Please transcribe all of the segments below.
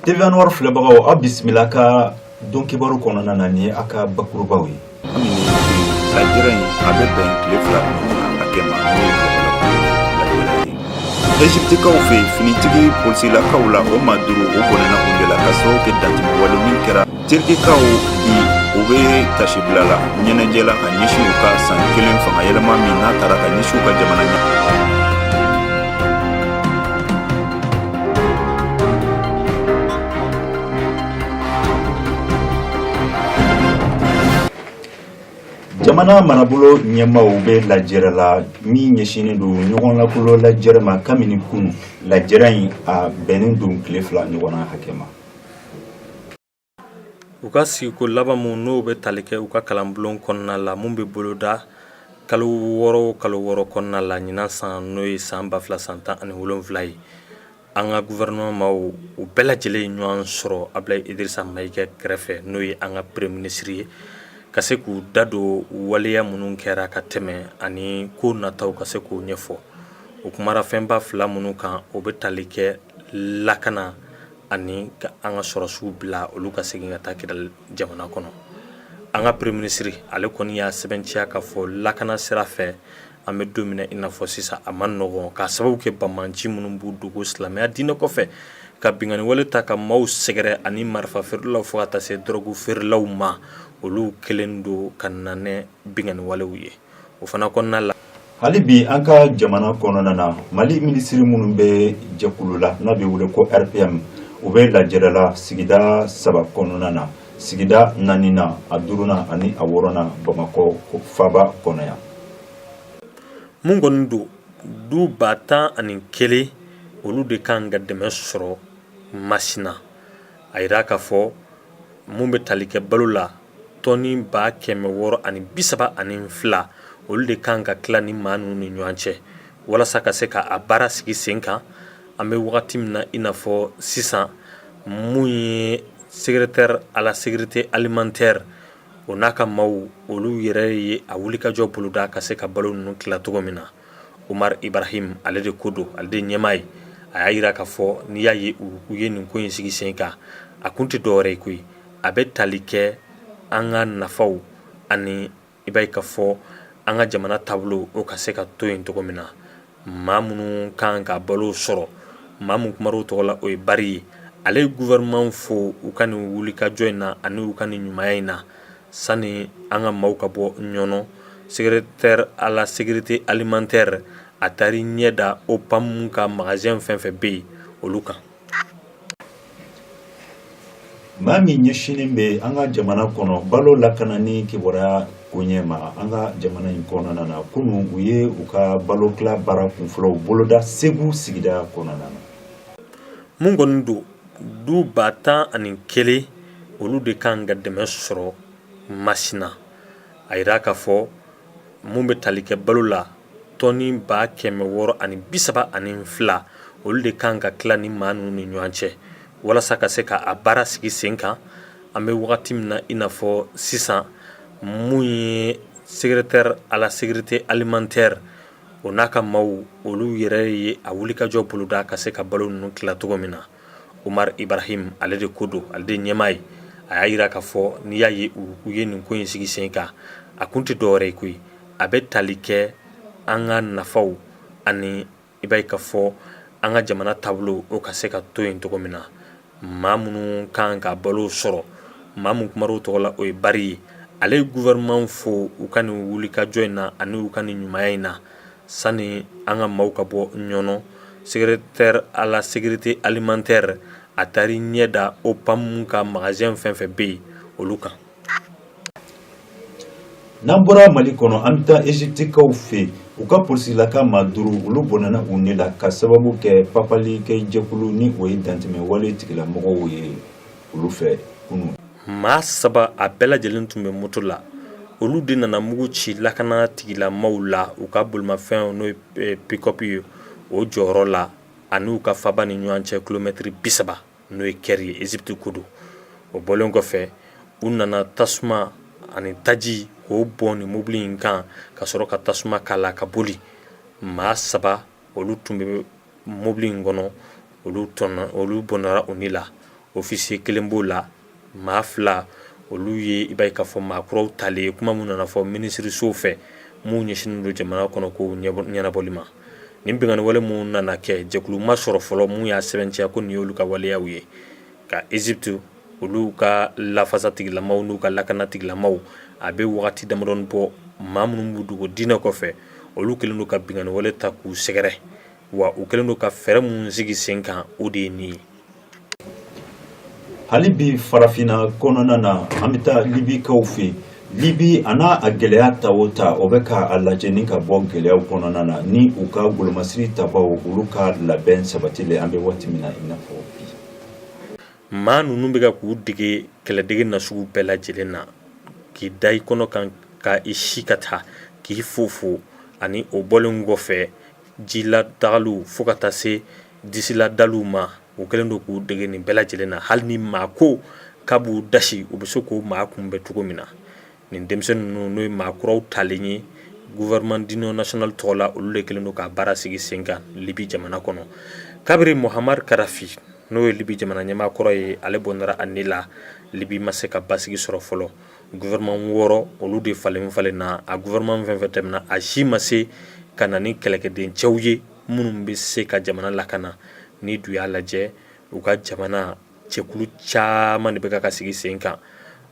TV Anwar filɛbagaw aw bisimila ka don kibaru kɔnɔna na ni a ka bakurubaw ye Ezipitikaw fɛ finitigi polisilakaw la o maa duuru u bɔnɛna u de la k'a sababu kɛ dantɛmɛ wale min kɛra Turikikaw bi u bɛ tasibila la ɲɛnajɛ la ka ɲɛsin u ka san kelen fanga yɛlɛma min n'a taara ka ɲɛsin u ka jamana ɲɛ jamana marabolo ɲɛmaaw bɛ lajɛrɛ la min ɲɛsinnen don ɲɔgɔn lakolo lajɛrɛ ma kabini kunu lajɛrɛ in a bɛnnen don tile fila ɲɔgɔnna hakɛ ma u ka sigiko laban mun n'o bɛ tali kɛ u ka kalanbulon kɔnɔna la mun bɛ boloda kalo wɔɔrɔ o kalo wɔɔrɔ kɔnɔna la ɲinan san n'o ye san ba fila san tan ani wolonwula ye an ka gouvernement maaw u bɛɛ lajɛlen ye ɲɔgɔn sɔrɔ Abulayi Idirisa Mayiga kɛrɛfɛ n'o ye an ka premier ministre ye ka se k'u da don waleya minnu kɛra ka tɛmɛ ani ko nataw ka se k'o ɲɛfɔ u kumara fɛnba fila minnu kan o bɛ tali kɛ lakana ani ka an ka sɔrɔsiw bila olu ka segin ka taa kidali jamana kɔnɔ an ka premier minisiri ale kɔni y'a sɛbɛntiya k'a fɔ lakana sira fɛ an bɛ don min na i n'a fɔ sisan a man nɔgɔn k'a sababu kɛ bamanci minnu b'u dogo silamɛya diinɛ kɔfɛ ka binkanniwale ta ka maaw sɛgɛrɛ ani marifa feerelaw fo ka taa se dɔrɔgu feerelaw ma olu kɛlen don ka na ni binkanniwalew ye o fana kɔnɔna la hali bi an ka jamana kɔnɔna na mali minisiri minnu bɛ jɛkulu la n'a bɛ wele ko RPM u bɛ lajɛrɛ la sigida saba kɔnɔna na sigida naaninan a duurunan ani a wɔɔrɔnan bamakɔ faba kɔnɔ yan mun kɔni don du ba tan ani kelen olu de kan ka dɛmɛ sɔrɔ masina a yira k'a fɔ mun bɛ tali kɛ balo la tɔni ba kɛmɛ wɔɔrɔ ani bisaba ani fila olu de kan ka tila ni maa ninnu ni ɲɔgɔn cɛ walasa ka se k'a baara sigi sen kan an bɛ wagati min na i n'a fɔ sisan mun ye secrétaire à la sécurité alimentaire o n'a ka maaw olu yɛrɛ ye a wulikajɔ boloda ka se ka balo ninnu tila cogo min na Umaru Ibarahim ale de ko don ale de ye ɲɛmaa ye a y'a yira k'a fɔ n'i y'a ye u ye nin ko in sigi sen kan a kun tɛ dɔwɛrɛ ye koyi a bɛ tali kɛ an ka nafaw ani i b'a ye k'a fɔ an ka jamana taabolo o ka se ka to yen cogo min na maa minnu ka kan ka balo sɔrɔ maa min kumara u tɔgɔ la o ye Bari ye ale ye gouvernement fo u ka nin wulikajɔ in na ani u ka nin ɲumanya in na sani an ka maaw ka bɔ ɲɔnɔ secrétaire à la sécurité alimentaire a taara i ɲɛ da OPAM ka magasin fɛn fɛn bɛ yen olu kan maa min ɲɛsinnen bɛ an ka jamana kɔnɔ balo lakana ni kibaruya koɲɛ ma an ka jamana in kɔnɔna na kunun u ye u ka balo tila baara kunfɔlɔw boloda segu sigida kɔnɔna na mun kɔni don du ba tan ani kelen olu de kan ka dɛmɛ sɔrɔ masina a jira k'a fɔ min bɛ tali kɛ balo la tɔni ba kɛmɛ wɔɔrɔ ani bi saba ani fila olu de kan ka tila ni maa ninnu ni ɲɔgɔn cɛ walasa ka se k'a baara sigi sen kan an bɛ wagati min na i n'a fɔ sisan mun ye secrétaire à la sécurité alimentaire o n'a ka maaw olu yɛrɛ ye a wulikajɔ boloda ka se ka balo ninnu tila cogo min na umar ibrahim ale de ko don ale de ɲɛmaa ye a y'a jira k'a fɔ n'i y'a ye u ye nin ko in sigi sen kan a kun tɛ dɔwɛrɛ ye koyi a bɛ tali kɛ an ka nafaw ani i b'a ye k'a fɔ an ka jamana taabolo o ka se ka to yen cogo min na maa minnu kan ka balo sɔrɔ maa min kumara u tɔgɔ la o ye bari ye ale ye gouvernement fo u ka nin wulikajɔ in na ani u ka nin ɲumanya in na sani an ka maaw ka bɔ ɲɔnɔ secrétaire à la sécurité alimentaire a taara i ɲɛ da OPAM ka magasin fɛn fɛn bɛ yen olu kan N'an bɔra mali kɔnɔ an bɛ taa ezipitikaw fɛ u ka polisilaka maa duuru olu bɔnɛna u ni la ka sababu kɛ papalikɛ jɛkulu ni o ye dantɛmɛ wale tigilamɔgɔw ye olu fɛ kunun maa saba a bɛɛ lajɛlen tun bɛ moto la olu de nana mugu ci lakana tigilamaaw la u ka bolimafɛn n'o ye pikɔpu ye o jɔyɔrɔ la ani u ka faba ni ɲɔgɔn cɛ kilomɛtiri bi saba n'o ye kɛri ye ezipiti ko don o bɔlen kɔfɛ u nana tasuma ani taji k'o bɔn ni mobili in kan ka sɔrɔ ka tasuma k'a la ka boli maa saba olu tun bɛ mobili in kɔnɔ olu olu bɔnɛra u ni la ofisiye kelen b'o la maa fila olu ye i b'a ye k'a fɔ maa kuraw talen ye kuma min nana fɔ minisiriso fɛ min ɲɛsinnen don jamana kɔnɔ ko ɲɛnabɔli ma nin binkanni wale min nana kɛ jɛkulu ma sɔrɔ fɔlɔ min y'a sɛbɛntiya ko nin y'olu ka waleyaw ye ka ezipiti olu ka lafasatigilamaw n'u ka lakanatigilamaw a bɛ waati damadɔnin bɔ maa minnu b'u dogo diinɛ kɔfɛ olu kɛlen don ka binkanni wale ta k'u sɛgɛrɛ wa u kɛlen don ka fɛɛrɛ min sigi sen kan o de ye nin ye Hali bi farafinna kɔnɔna na an bɛ taa libikaw fɛ libi a n'a a gɛlɛya ta o ta o bɛ ka a lajɛ ni ka bɔ gɛlɛyaw kɔnɔna na ni u ka golomasiri tabaw olu ka labɛn sabatilen an bɛ waati min na i n'a fɔ bi maa ninnu bɛ ka k'u dege kɛlɛdege na sugu bɛɛ lajɛlen na k'i da i kɔnɔ kan ka i si ka taa k'i fofo ani o bɔlen kɔfɛ ji la dagaliw fo ka taa se disiladaliw ma u kɛlen don k'u dege nin bɛɛ lajɛlen na hali ni maa ko k'a b'u dasi u bɛ se k'o maa kunbɛn cogo min na nin denmisɛnnin ninnu n'o ye maa kuraw talen ye gouvernement d'union nationale tɔgɔ la olu de kɛlen don ka baara sigi sen kan libi jamana kɔnɔ kabiri Mouammar Kadhafi n'o ye libi jamana ɲɛmaa kɔrɔ ye ale bɔnna a ni la libi ma se ka basigi sɔrɔ fɔlɔ gouvernement wɔɔrɔ olu de falenfalenna a gouvernement fɛn o fɛn tɛmɛna a si ma se ka na ni kɛlɛkɛden cɛw ye minnu bɛ se ka jamana lakana n'i dun y'a lajɛ u ka jamana cɛkulu caman de bɛ ka sigi sen kan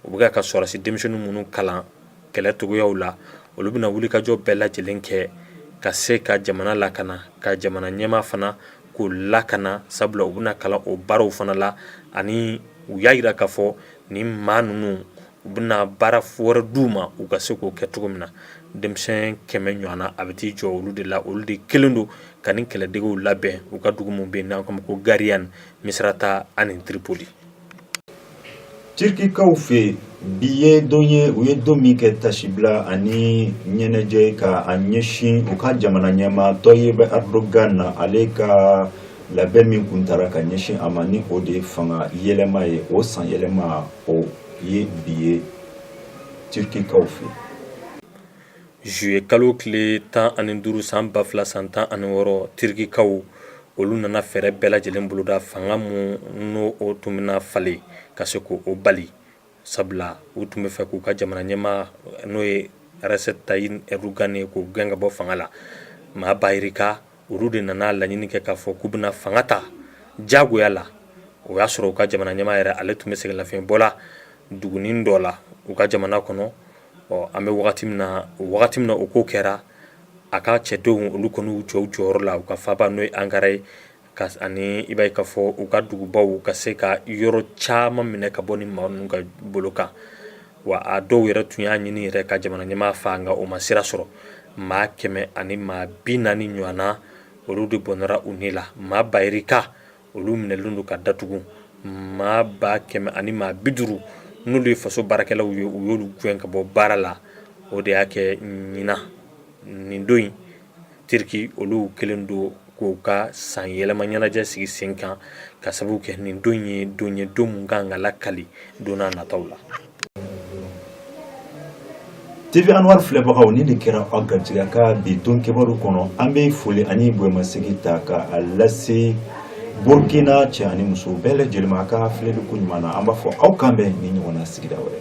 u bɛ ka sɔrɔdasi denmisɛnnin minnu kalan kɛlɛ cogoyaw la olu bɛna wulikajɔ bɛɛ lajɛlen kɛ ka se ka jamana lakana ka jamana ɲɛmaa fana k'o lakana sabula u bɛna kalan o baaraw fana la ani u y'a jira k'a fɔ nin maa ninnu u bɛna baara wɛrɛ d'u ma u ka se k'o kɛ cogo min na denmisɛn kɛmɛ ɲɔgɔnna a bɛ t'i jɔ olu de la olu de kɛlen don ka nin kɛlɛdegew labɛn u ka dugu min bɛ n'an k'a ma ko Gariane ni Misrata ani Tripoli Turquie kaw fɛ bi ye don ye u ye don min kɛ tasibila ani ɲɛnajɛ ka a ɲɛsin u ka jamana ɲɛmaa Tayyip Erdogan na ale ka labɛn min kun taara ka ɲɛsin a ma ni o de ye fanga yɛlɛma ye o san yɛlɛma o ye bi ye Turquie kaw fɛ yen. Juillet kalo tile tan ani duuru san ba fila san tan ani wɔɔrɔ Turquie kaw olu nana fɛɛrɛ bɛɛ lajɛlen boloda fanga min n'o tun bɛna falen ka se k'o bali sabula u tun bɛ fɛ k'u ka jamana ɲɛmaa n'o ye Recep Tayyip Erdogan ye k'o gɛn ka bɔ fanga la maa ba yirika olu de nana laɲini kɛ k'a fɔ k'u bɛna fanga ta diyagoya la o y'a sɔrɔ u ka jamana ɲɛmaa yɛrɛ ale tun bɛ sɛgɛnlafiɲɛbɔ la dugunin dɔ la u ka jamana kɔnɔ ɔ an bɛ wagati min na wagati min na o ko kɛra a ka cɛdenw olu kɔni y'u jɔ u jɔyɔrɔ la u ka faaba n'o ye ankara ye ani i b'a ye k'a fɔ u ka dugubaw ka se ka yɔrɔ caman minɛ ka bɔ nin maa ninnu ka bolo kan wa a dɔw yɛrɛ tun y'a ɲini yɛrɛ ka jamana ɲɛmaa faa nka o ma sira sɔrɔ maa kɛmɛ ani maa bi naani ɲɔgɔnna olu de bɔnɛra u ni la maa bayirika olu minɛlen don ka datugu maa ba kɛmɛ ani maa bi duuru n'olu ye faso baarakɛlaw ye u y'olu gɛn ka bɔ baara la o de y'a kɛ ɲina nin don in turki olu kɛlen don k'u ka san yɛlɛma ɲɛnajɛ sigi sen kan ka sababu kɛ nin don ye don ye don min ka kan ka lakali don nataw la tv anwar filɛbagaw ni de kɛra aw garijɛgɛ ka bi don kibaru kɔnɔ an bɛ foli ani bonyamasegin ta ka a lase burkina cɛ ani muso bɛɛ lajɛlen ma a ka filɛli ko ɲuman na an b'a fɔ aw k'an bɛn ni ɲɔgɔn na sigida wɛrɛ